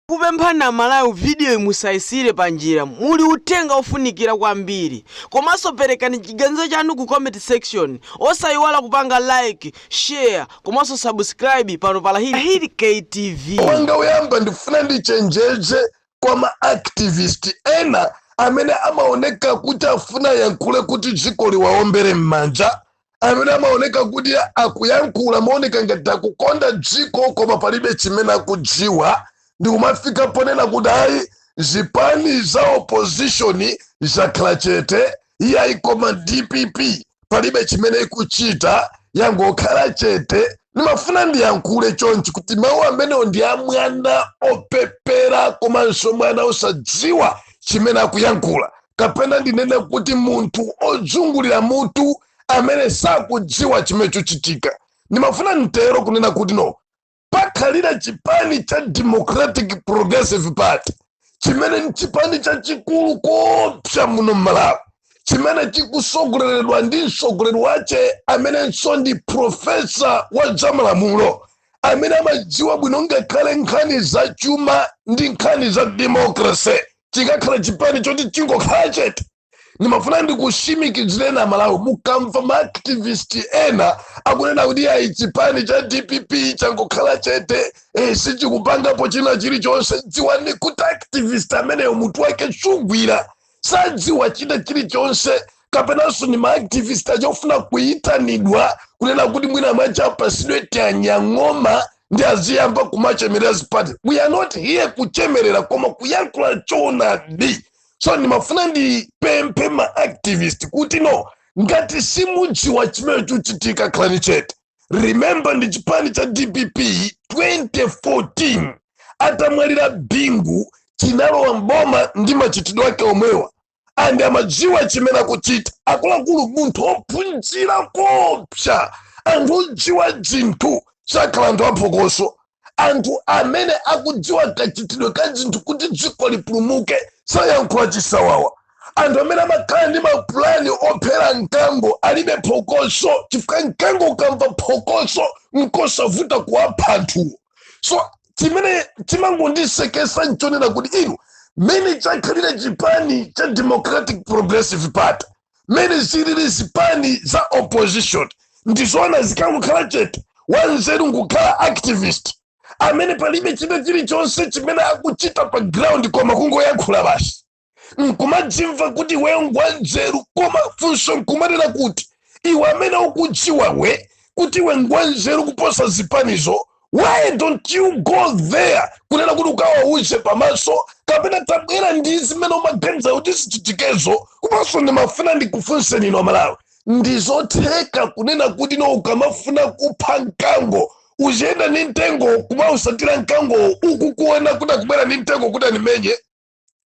Tikupemphani a Malawi video yi musaisiire panjira, muli uthenga ofunikira kwambiri. Komanso perekani chiganizo chanu ku comment section, osaiwala kupanga like, share komanso subscribe pano pa Lahiri K TV. Wanga woyamba ndifuna ndichenjeze kwa ma activist ena amene amaoneka kuti afuna ayankhule kuti dziko liwaombere m'manja amene amaoneka kuti akuyankhula mooneka ngati akukonda dziko koma palibe chimene akudziwa ndikumafika ponena kuti ayi zipani za opposition zakhala chete iyayi koma dpp palibe chimene ikuchita yangokhala chete ndimafuna ndiyankhule chonchi kuti mawu amenewo ndi a mwana opepera komanso mwana osadziwa chimene akuyankhula kapena ndinene kuti munthu odzungulira mutu amene sakudziwa chimene chuchitika ndimafuna ntero kunena kuti no pakhalira chipani cha democratic progressive party chimene ni chipani chachikulu kopsa muno mmalawi chimene chikusogoleredwa ndi msogoleri wache amenenso ndi profesa wa zamalamulo amene amadziwa bwino ngakhale nkhani za chuma ndi nkhani za democracy chikakhala chipani choti chingokhala chete ndimafuna ndikushimikizireni aMalawi mukamva maaktivist ena akunena kuti ayi chipani cha dpp changokhala chete eh, sichikupangapo china chilichonse dziwani kuti activist ameneyo mutu wake sugwira sadziwa china chilichonse kapenanso ndi maactivist aja ofuna kuyitanidwa kunena kuti mwina mwake apasidwe tianyang'oma ndi aziyamba kumachemerera zipati we are not here kuchemerera koma kuyankhula choonadi so ndimafuna ndipemphe maactivist kuti no ngati simudziwa chimene chikuchitika khalani chete remember ndi chipani cha dpp 2014 atamwalira bingu chinalowa mboma ndi machitidwe ake omwewa and amadziwa chimene akuchita akuluakulu munthu ophunzira kopsa anthu odziwa zinthu sakhala anthu aphokoso anthu amene akudziwa kachitidwe ka zinthu kuti dziko lipulumuke sayankhula chisawawa anthu amene amakhala ndi mapulani ophera mkango alibe phokoso chifukwa mkango ukamva phokoso nkosavuta kuwapha anthuwo so chimene chimangondisekesa nchonena kuti inu mmene chakhalira chipani cha democratic progressive party mmene zilili zipani za opposition ndizoona zikangokhala chete wanzeru nkukhala activist amene palibe china chilichonse chimene akuchita pa ground koma kungoyankhula basi nkumadzimva kuti iweyo ngwanzeru koma funso nkumanena kuti iwe amene ukudziwa we kuti iwe ngwanzeru kuposa zipanizo why don't you go there kunena kuti ukawauze pamaso kapena tabwera ndi zimene umaganiza kuti zichitikezo komanso ndimafuna ndikufunseni inu amalawi ndizotheka kunena kuti no ukamafuna kupha mkango uziyenda ndi mtengo kumausatira mkango ukukuona kuti akubwera ndi mtengo kuti animenye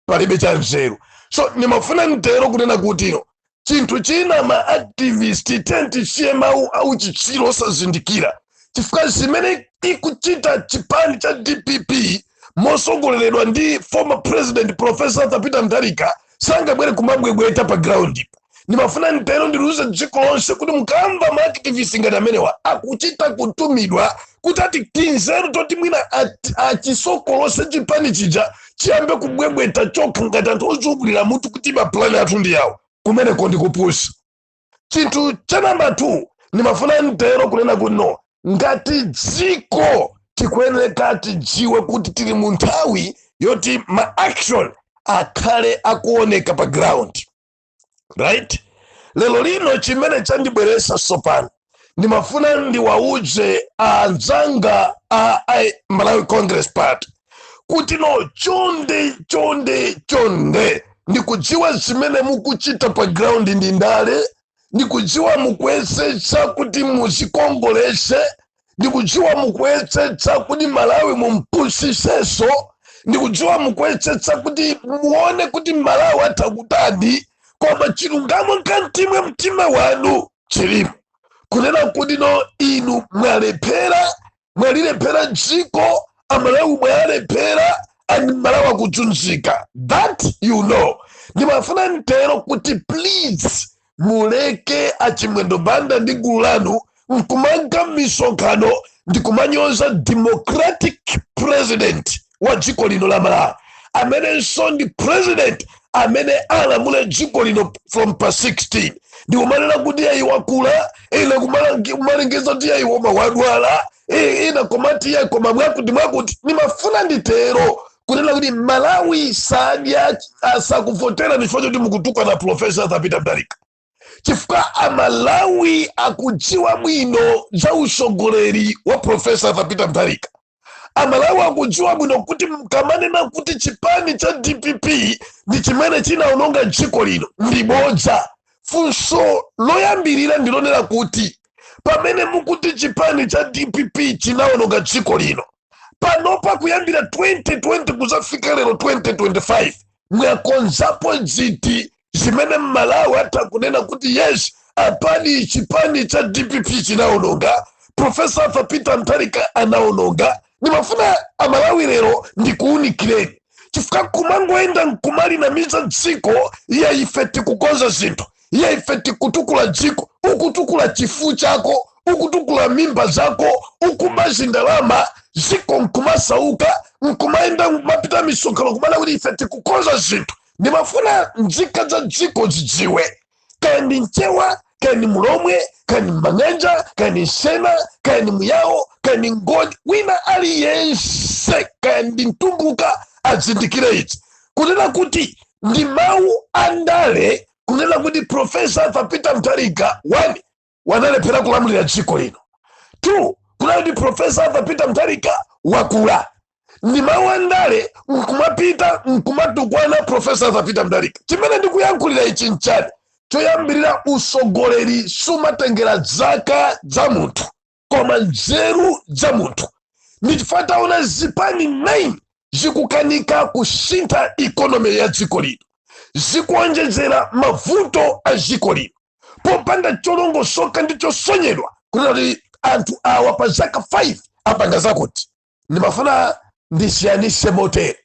palibe cha nzeru so ndimafuna nditero kunena kuti no chinthu china ma activist tatisiye mawu auchitsiru osazindikira chifukwa zimene ikuchita chipani cha dpp mosogoleredwa ndi former president professor arthur peter mutharika sangabwere kumabwebweta pa ground ipa ndimafuna ntero ndiliuze dziko lonse kuti mukamva ma activist ngati amenewa akuchita kutumidwa kuti ati tinzeru toti mwina at- achisokolose chipani chija chiyambe kubwebweta chokha ngati anthu ozungulira mutu kuti mapulani athu ndi yawo kumeneko ndikupusa chinthu cha namba 2 ndimafuna ntero kunena kuti no ngati dziko tikuyeneka tidziwe kuti tili mu nthawi yoti ma action akhale akuoneka pa ground right lero lino chimene chandibweresa sopano ndimafuna ndiwauze anzanga a I- malawi congress party kuti no chonde chonde chonde ndikudziwa zimene mukuchita pa ground ndi ndale ndikudziwa mukuyesetsa kuti muzikongolese ndikudziwa mukuyesetsa kuti malawi mumpusiseso ndikudziwa mukuyesetsa kuti muone kuti malawi atha kutani koma chilungamo mkatimwe mtima wanu chilimo kunena kuti no inu mwalephera mwalilephera dziko amalawi mwaalephera and malawi akudzunzika that you know ndimafuna ntero kuti please muleke achimwendo banda ndi gulu lanu nkumanka misonkhano ndikumanyoza democratic president wa dziko lino la malawi amenenso ndi president amene alamule dziko lino from pa 16 ndikumanena kuti yayi wakula ina kumalangi- kumalengeza kuti yayi woma wadwala i- ina komati ya koma mwakuti mwakuti ndimafuna nditero kunena kuti malawi sadya asakuvotera chifukwa choti mukutukwana profesa arthur peter mutharika chifukwa amalawi akudziwa bwino za usogoleri wa profesa arthur peter mutharika amalawi akudziwa bwino kuti mkamanena kuti chipani cha dpp ndi chimene chinaononga dziko lino ndi bodza funso loyambirira ndilonena kuti pamene mukuti chipani cha dpp chinaononga dziko lino panopa kuyambira 2020 kuzafika lero 2025 mwakonzapo ziti zimene mmalawi atha kunena kuti yes apani chipani cha dpp chinaononga profesa arthur peter mtharika anaononga ndimafuna amalawi lero ndikuunikireni chifukwa kumangoyenda nkumalinamiza dziko iye ife tikukonza zinthu iye ife tikutukula dziko ukutukula chifu chako ukutukula mimba zako ukuba zindalama dziko nkumasauka nkumayenda kumapita m'misonkhano kumanena kuti ife tikukonza zinthu ndimafuna nzika za dziko zidziwe kaya ndi mchewa kaya ndi mulhomwe kaya ndi mang'anja kaya ndi msena kaya ndi muyawo kaya ndi ngoni wina aliyense kaya ndi mtumbuka azindikire ichi kunena kuti ndi mawu a ndale kunena kuti profesa arthur peter mutharika one wanalephera kulamulira dziko lino two kunena kuti profesa arthur peter mutharika wakula ndi mawu a ndale nkumapita nkumatukwana profesa arthur peter mutharika chimene ndikuyankhulira ichi nchani choyambirira usogoleri sumatengera zaka za munthu koma nzeru za munthu ndi chifukwa taona zipani 9 zikukanika kusintha ikonomi ya dziko lino zikuonjezera mavuto a dziko lino popanda cholongosoka ndi chosonyedwa kunena kuti anthu awa pa zaka 5 apanga zakuti ndimafuna ndisiyanise motere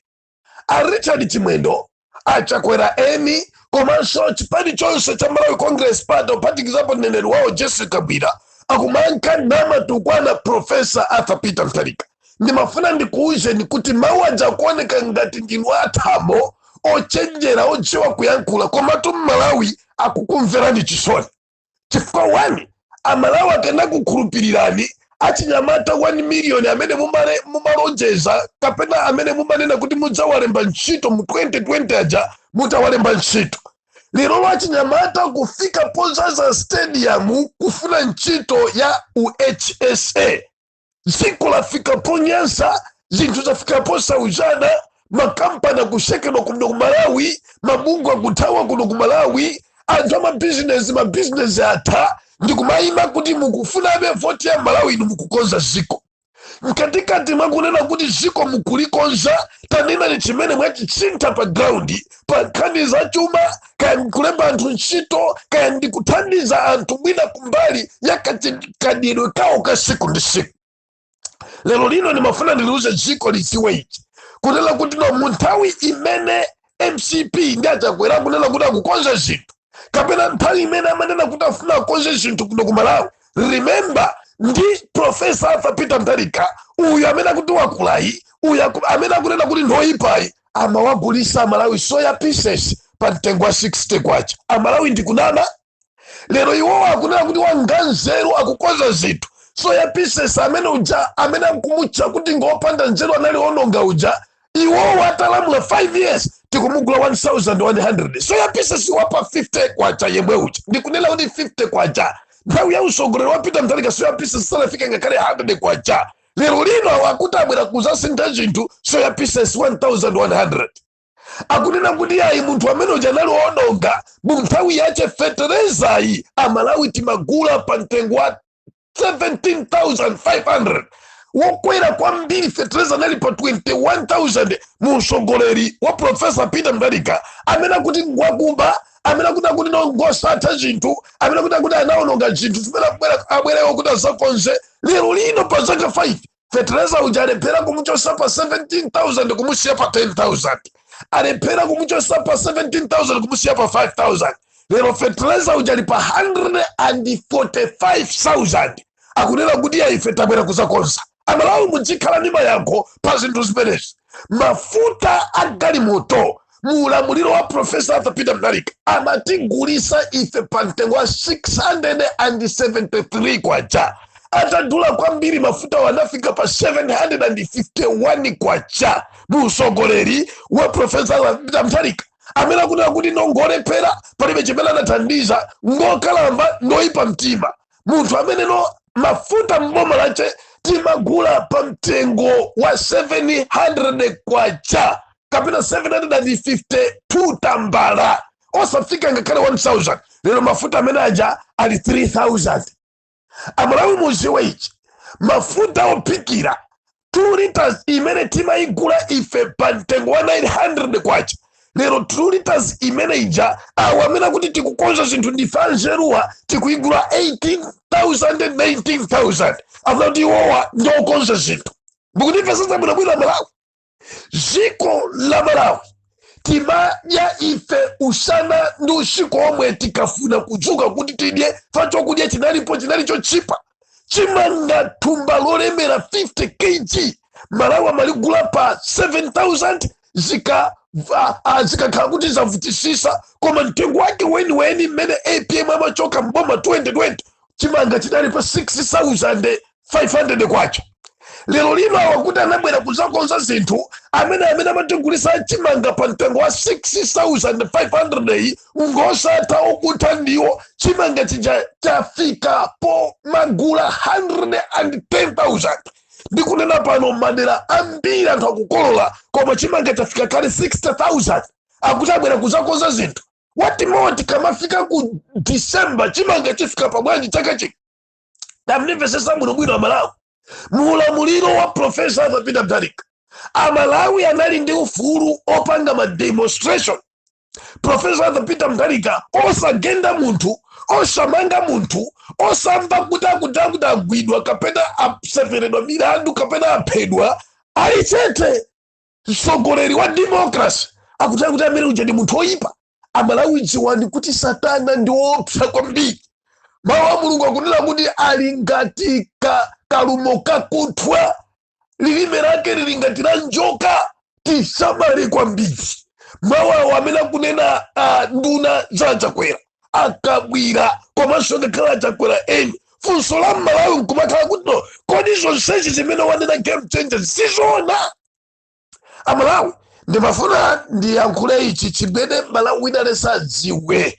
a richard chimwendo a chakwera eni komanso chipani chonse cha malawi congress party ophatikizapo mneneri wawo jessie kabwila akumanka namatukwana profesa arthur peter mtharika ndimafuna ndikuwuzeni kuti mawu aja kuoneka ngati ndinu athamo ochenjera odziwa kuyankhula komatu mmalawi akukumverani chisoni chifukwa one amalawi akanakukhulupirirani achinyamata 1 miliyoni amene mumalonjeza kapena amene mumanena kuti mudzawalemba ntchito mu 2020 aja mutawalemba ntchito lerolo achinyamata kufika podzadza stadium kufuna ntchito ya uhsa dziko lafika ponyansa zinthu zafika posautsana makampani akusekedwa kuno ku malawi mabungwe akuthawa kuno ku malawi anthu amabizinesi mabizinesi atha ndikumayima kuti mukufunabe voti ya amalawi inu mukukonza dziko mkatikati mwakunena kuti dziko mukulikonza tanenani chimene mwachisintha pa ground pa nkhani za chuma kaya ndikulemba anthu ntchito kaya ndikuthandiza anthu mwina kumbali ya kadyedwe kawo ka siku ndi siku lero lino ndimafuna ndiliuze dziko lidziwe ichi kunena kuti no munthawi imene mcp ndi a chakwera kunena kuti akukonza zinthu kapena nthawi imene amanena kuti afuna akonze zinthu kuno ku malawi remember ndi profesa arthur peter mutharika uyu amene akuti wakulayi uyu aku- amene akunena kuti ndoyipayi amawagulisa amalawi soya pieces pa mtengo wa 60 kwacha amalawi ndikunena lero iwowo akunena kuti wanganzeru akukonza zinthu soya pieces amene uja amene akumutcha kuti ngopanda nzeru anali ononga uja iwowo atalamula 5 years tikumugula 1100 soya pieces wapa 50 kwacha yemwe uja ndikunena kuti 50 kwacha nthawi ya usogoleri wa peter mutharika soya pieces sanafike ngakhale 100 kwacha lero lino awo akuti abwera kuzasintha zinthu soya pieces 1100 akunena kuti ayi munthu amene uja anali ononga mu nthawi yache feterezayi amalawi timagula pa mtengo wa 17500 wokwera kwambiri fetereza anali pa 21000 mu usogoleri wa profesa peter mutharika amene akuti ngwakuba amene akuti akuti ndi ngosatha zinthu amene akuti akuti anaononga zinthu zimene abwera- abwerewo kuti azakonze lero lino pa zaka 5 fetereza uja alephera kumuchosa pa 17000 kumusiya pa 10000 alephera kumuchosa pa 17000 kumusiya pa 5000 lero fetereza uja ali pa 145000 akunena kuti ayi ife tabwera kuzakonza amalawi mudzikhala ndi mayankho pa zinthu zimenezi mafuta a galimoto mu ulamuliro wa profesa arthur peter mutharika anatigulisa ife pa mtengo wa 673 kwacha atadula kwambiri mafutawo anafika pa 751 kwacha mu usogoleri wa profesa arthur peter mutharika amene akunena kuti ndi ngolephera palibe chimene anathandiza ngokalamba ndoyipa mtima munthu ameneyo mafuta m'boma lache timagula pa mtengo wa 700 kwacha kapena 752 tambala osafika ngakhale 1000 lero mafuta amene aja ali 3000 amalawi muziwe ichi mafuta ophikira 2 liters imene timayigula ife pa mtengo wa 900 kwacha lero 2 liters imene ija awo amene akuti tikukonza zinthu ndife anzeruwa tikuyigula 18000 19000 akuti iwowa ndi okonza zinthu mukundimvetsetsa bwinobwino malawi dziko la malawi timadya ife usana ndi usiku omwe tikafuna kudzuka kuti tidye ife chakudya chinalipo chinali chochipa chimanga thumba lolemera 50 kg amalawi amaligula pa 7000 zika va- ah, zikakhala kuti zavutisisa koma mtengo wake weniweni mmene apm amachoka mboma 2020 chimanga chidali pa 6500 kwacha lero lino awa akuti anabwera kuzakonza zinthu amene amene amatigulisa chimanga pa mtengo wa 6500 iyi ngosatha okutha ndiwo chimanga chija chafika po magula 110,000 ndikunena pano madera ambiri anthu akukolola koma chimanga chafika kale 60,000 akuti abwera kuzakonza zinthu wati moti kamafika ku december chimanga chifika pabwanji chaka chino tandimvesesa bwinobwino amalawi muulamuliro wa profesa arthur peter mutharika amalawi anali ndi ufulu opanga ma demonstration profesa arthur peter mutharika osagenda munthu osamanga munthu osamva kuti akuti akuti agwidwa kapena asemeredwa milandu kapena aphedwa ali chete mtsogoleri wa democracy akuti akuti amene uja ndi munthu oyipa amalawi dziwani kuti satana ndi woopsa kwambiri mawu a mulungu akunena kuti ali ngati ka, kalumo kakuthwa lilime lake lili ngati la njoka tisamale kwambiri mawu awo amene akunena uh, nduna za achakwera akabwila komanso ngakhale achakwera eni funso la mmalawi nkumakhala kuti no kodi zonsezi zimene wanena game changer sizoona amalawi ndimafuna ndiyankhule ichi chimene mmalawi wina aliyense adziwe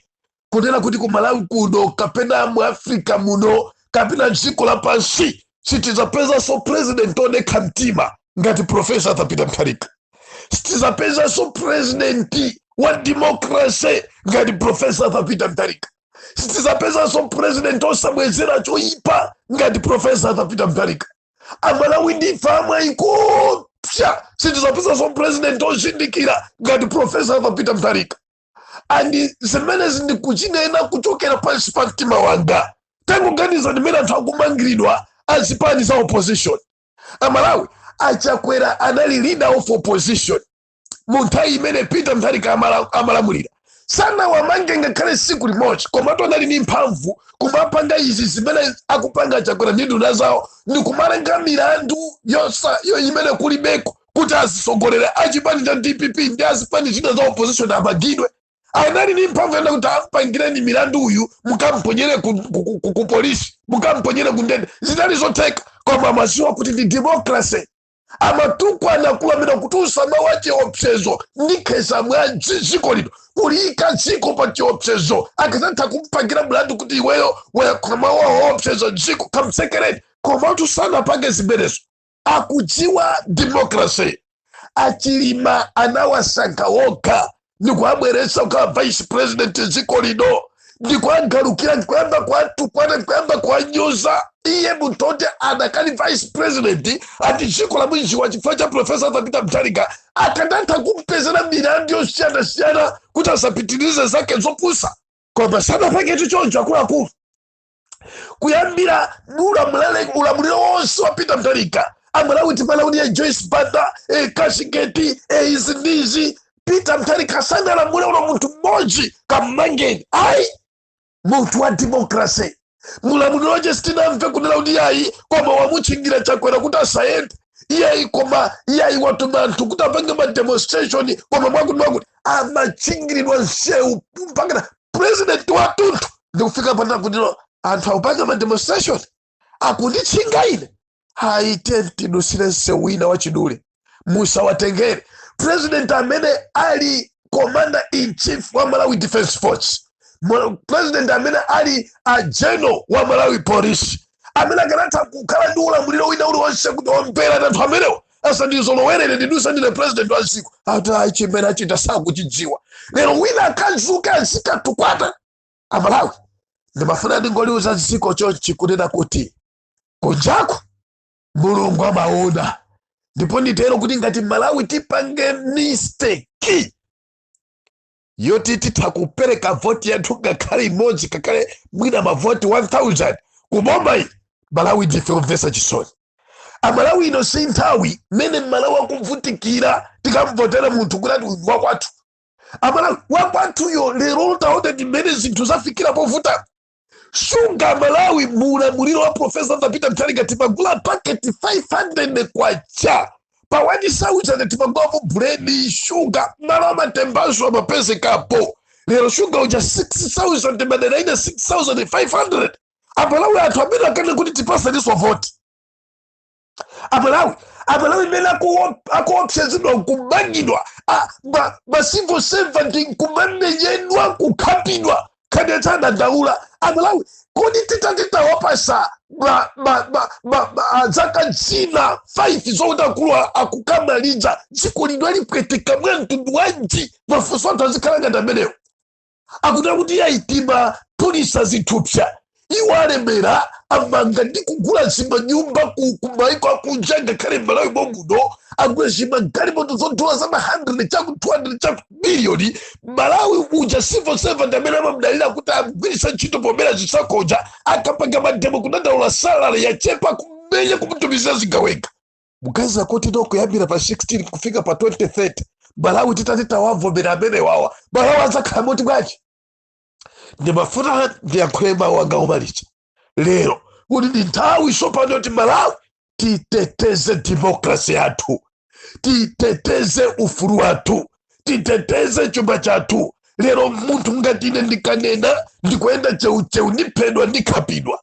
kunena kuti ku malawi kuno kapena mu africa muno kapena dziko lapansi sitizapezanso president odekha mtima ngati profesa arthur peter mutharika sitizapezanso president wa democracy ngati profesa arthur peter mutharika sitizapezanso president osabwezera choyipa ngati profesa arthur peter mutharika amalawi ndife amwayi koopsa sitizapezanso president ozindikira ngati profesa arthur peter mutharika and zimenezi ndikuchinena kuchokera pansi pa mtima wanga tangoganizani mmene anthu akumangiridwa azipani za opposition amalawi achakwera anali leader of opposition mu nthawi imene peter mutharika amala- amalamulira sanawamange ngakhale siku limodzi komatu anali ndi mphamvu kumapanga izi zimene akupanga chakwera ndi nduna zawo ndi kumalenga milandu yosa yo imene kulibeko kuti azisogoleri achipani cha dpp ndi azipani zina za opposition amangidwe anali ndi mphamvu yonena kuti ampangireni milandu uyu mukamponyere ku, ku, ku, ku, ku polisi mukamponyere ku ndende zinali zotheka koma amaziwa kuti ndi democracy amatukwana kulambira kutulutsa mawu a chiopsezo ndikhesa mwazi dziko lino kuliyika dziko pa chiopsezo akazatha kumpangira mlandu kuti iweyo wayankhula mawu owopseza dziko kamtsekereni komatu sanapange zimenezo akudziwa demokrasi achilima anawasankha wokha ndikuabweretsa kukhala vice president dziko lino ndikuagalukira ndikuyamba kuatukwana ndikuyamba kuanyoza iye munthu oti adakali vice president ati dziko lamwiziwa chifukwa cha profesa Arthur Peter Mutharika akanatha kumpezera milandu yosiyanasiyana kuti asapitirize zake zopusa koma sanapange choncho akuluakulu kuyambira ulamulele- ulamuliro wonse wa Peter Mutharika amalawi timadziwa kuti ya Joyce Banda eh, Cashgate eh, izi ndi izi Peter Mutharika sanalamule ulo munthu mmodzi kammangeni ayi munthu wa demokrase mulamuliro wache sitinamve kunena kuti yayi koma wamutchingira Chakwera kuti asayende iyayi koma iyayi watuma anthu kuti apange mademonstration koma mwakuti mwakuti amatchingiridwa nsewu mpakana president watunthu ndikufika pakuti anthu akupanga ma demonstration akunditchinga ine haa tiyeni tidutsire nsewu wina wachidule musawatengere president amene ali commander in chief wa malawi defense force president amene ali ndi general wa malawi police amene akanatha kukhala ndi ulamuliro wina uliwonse kuti omberani anthu amenewo asandizolowerere ndiduse ndine president wa dziko ati chimene achita sakuchidziwa lero wina akadzuke azikatukwana amalawi ndimafuna ndingoliuza dziko chonchi kunena kuti kunjako mulungu amaona ndipo nditero kuti ngati malawi tipange mistake yoti titha kupereka voti yathu ngakhale imodzi ngakhale mwina mavoti 1000 kuboma iyi malawi ndife omvetsa chisoni amalawi ino si nthawi mmene mmalawi akuvutikira tikamvotera munthu kuti ati uyu ndi wakwathu amalawi wakwathuyo lero taona ndi mmene zinthu zafikira povuta shuga amalawi mu ulamuliro wa profesa Arthur Peter Mutharika timagula paketi 500 kwacha pa 1000 timagulamo buledi shuga ndalama ya matembanso imapezekapo lero shuga uja 6000 madera ena 6500 amalawi athu amene akane kuti tipatseninso voti amalawi amalawi mmene akuopsezedwa nkumangidwa ma civil servant nkumamenyedwa kukhapidwa kamba kodandaula amalawi kodi titati tawapatsa zaka zina 5 zokuti akulu akukamaliza dziko lino alipweteka mwa mtundu wanji mafunso anthu azikhala ngati amenewo akuti akuti yayi timaphulitsa zithupsa iwo alemera amanga ndi kugula zimanyumba ku ku maiko akunja ngakhale malawi momuno agula zimagalimoto zodula za ma 100 chakuti 200 chakuti miliyoni malawi uja civil servant amene amamdalira kuti amgwiritsa ntchito pomwera azitsako aja akapanga mademo kudandaula salary yachepa kumenya kumutumizira zigawenga kuganiza kuti no kuyambira pa 16 kufika pa 2030 malawi titati tawavomera amene wawa malawi adzakhala moti bwanji ndimafuna ndiyankhule mawu anga omaliza lero kuti ndi nthawi tsopano kuti malawi titeteze demokrasi yathu titeteze ufulu wathu titeteze chuma chathu lero munthu ngati ine ndikanena ndikuyenda cheucheu ndiphedwa ndikhapidwa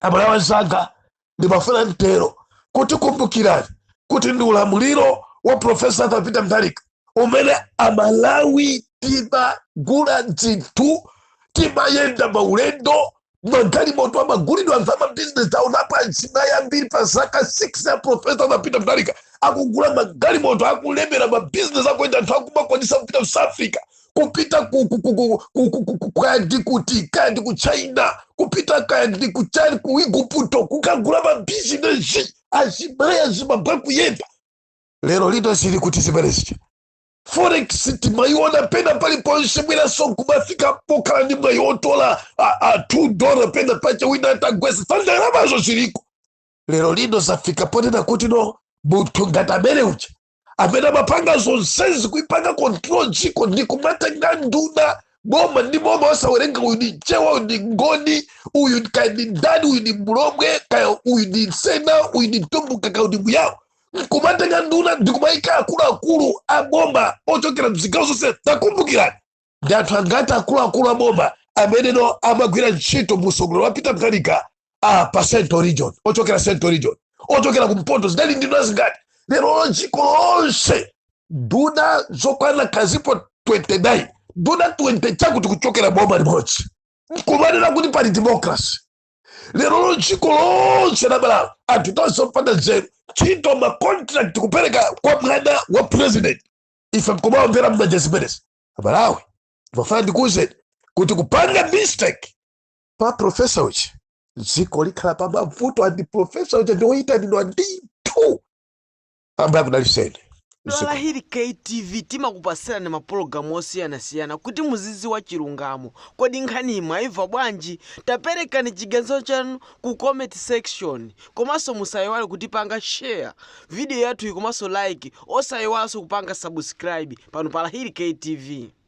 amalawi anzanga ndimafuna ntero kuti kumbukirani kuti ndi ulamuliro wa profesa arthur peter mutharika umene amalawi timagula dzinthu timayenda maulendo magalimoto amagulidwa anthu amabizinesi awo onapo azimayi ambiri pa zaka 6 ya profesa arthur peter mutharika akugula magalimoto akulemera mabizinesi akuyenda anthu akumakwanisa kupita ku south africa kupita ku- ku- ku- ku- ku- ku- ku- ku- kaya ndi kuti kaya ndi ku china kupita kaya ndi ku china ku igupto kukagula mabizinesi azimayi azibambo akuyenda lero lino zili kuti zimenezi forex timayiona pena paliponse mwinaso kumafika pokhala ndi mwayi otola a- a 2 dola pena pache wina atagwesa sandalamazo ziliko lero lino zafika ponena kuti no munthu ngati amene uja amene amapanga zonsezi kuipanga control dziko ndi kumatenga nduna boma ndi boma wosawerenga uyu ndi chewa uyu ndi ngoni uyu kaya ndi ndani uyu ndi mlomwe kaya uyu ndi msena uyu ndi mtumbuka kaya uyu ndi muyawo nkumatenga nduna ndikumayika akuluakulu a boma ochokera mzigawo zonse takumbukirani ndi anthu angati akuluakulu a boma amenewo amagwira ntchito mu utsogoleri wa peter mutharika ah, pa central region ochokera central region ochokera kumpoto zinali nduna zingati lero lo dziko lonse nduna zokwana kazipo 29 nduna 20 chakuti kuchokera boma limodzi nkumanena kuti pali democracy lero lo dziko lonse la malawi anthu tonse opanda nzeru ntchito macontract kupereka kwa mwana wa president ife nkumawombera mmanja zimenezi amalawi ndimafuna ndikuwuzeni kuti kupanga mistake pa profesa uja dziko likhala pa mavuto andi profesa uja ndiwoyitanidwa ndithu ambuye akudalitseni lahiri ktv timakupasirani mapulogalamu osiyanasiyana kuti muzidziwa chilungamo kodi nkhani iyi mwayimva bwanji taperekani chiganizo chanu ku comment section komanso musaiwale kutipanga share video yathuyi komanso like osaiwalanso kupanga subscribe pano pa Lahiri K TV.